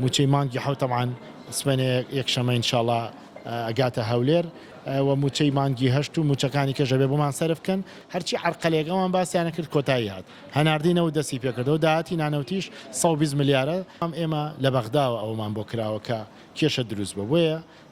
موچەی مانگی حەوت تەبعەن سبەینێ یەک شەمە ان شاء اللە ئەگاتە هەولێر وە موچەی مانگی هەشت و موچەکانی کەش ئەبێ بۆمان سەرف بکەن هەرچی عەرقەلێک ئەوان باسیان کرد کۆتایی هات هەناردەی نەوت دەستی پێکردەوە داهاتی نانەوتیش سەد و بیست ملیارە ئەم ئێمە لە بەغداوە ئەوەمان بۆ کراوە کە کێشە دروست بۆ بۆیە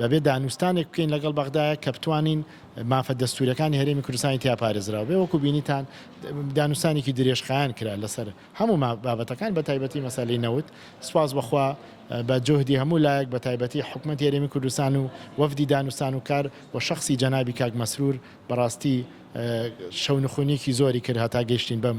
دەبێت دانوستانێک بکەین لەگەڵ بەغدایە کە بتوانین مافە دەستووریەکانی هەرێمی کوردستانی تیا پارێزراو بێ وەکو بینیتان دانوستانێکی درێژخایەن کرا لەسەر هەموو بابەتەکان بە تایبەتی مەسالی نەوت سپاس بخوا بە جهدی هەموو لایەک بە تایبەتی حکومت هەرێمی کوردستان و وەفدی دانوستان و کار و شخصی جەنابی کاک مەسرور بەڕاستی شەونخونیکی زۆری کرد هەتا گەشتین بەم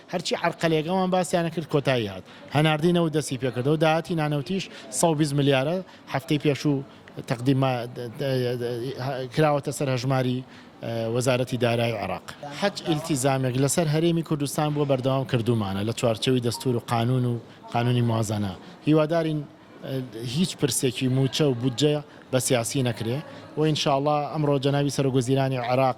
هەرچی عەرقەلێک ئەوان باسیان ئەکرد کۆتایی هات، هەناردەی نەوت دەستی پێکردەوە، داهاتی نانەوتیش سەد و بیست ملیارە، هەفتەی پێشوو تەقدیم کراوەتە سەر هەژماری وەزارەتی دارایی عێراق. هەچ ئیلتیزامێک لەسەر هەرێمی کوردستان بووە بەردەوام کردوومانە لە چوارچێوی دەستوور و قانوون و قانوونی موازەنە، هیوادارین هیچ پرسێکی مووچە و بودجە بە سیاسی نەکرێ و ان شاءاللە ئەمڕۆ جەنابی سەرۆک وەزیرانی عێراق،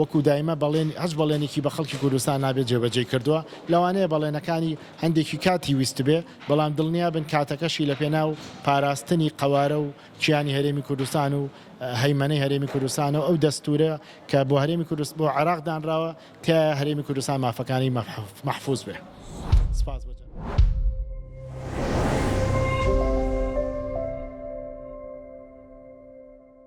وەکو دایمە بەڵێنی هەچ بەڵێنێکی بە خەڵکی کوردستان نابێت جێبەجێی کردووە، لەوانەیە بەڵێنەکانی هەندێکی کاتی ویستبێ، بەڵام دڵنیابن کاتەکەشی لە پێناو پاراستنی قەوارە و کیانی هەرێمی کوردستان و هەیمەنەی هەرێمی کوردستانە و ئەو دەستورە کە بۆ هەرێمی کوردست بۆ عێراق دانراوە تیایە هەرێمی کوردستان مافەکانی مەحفوز بێ. سپاس بۆ جەنابت.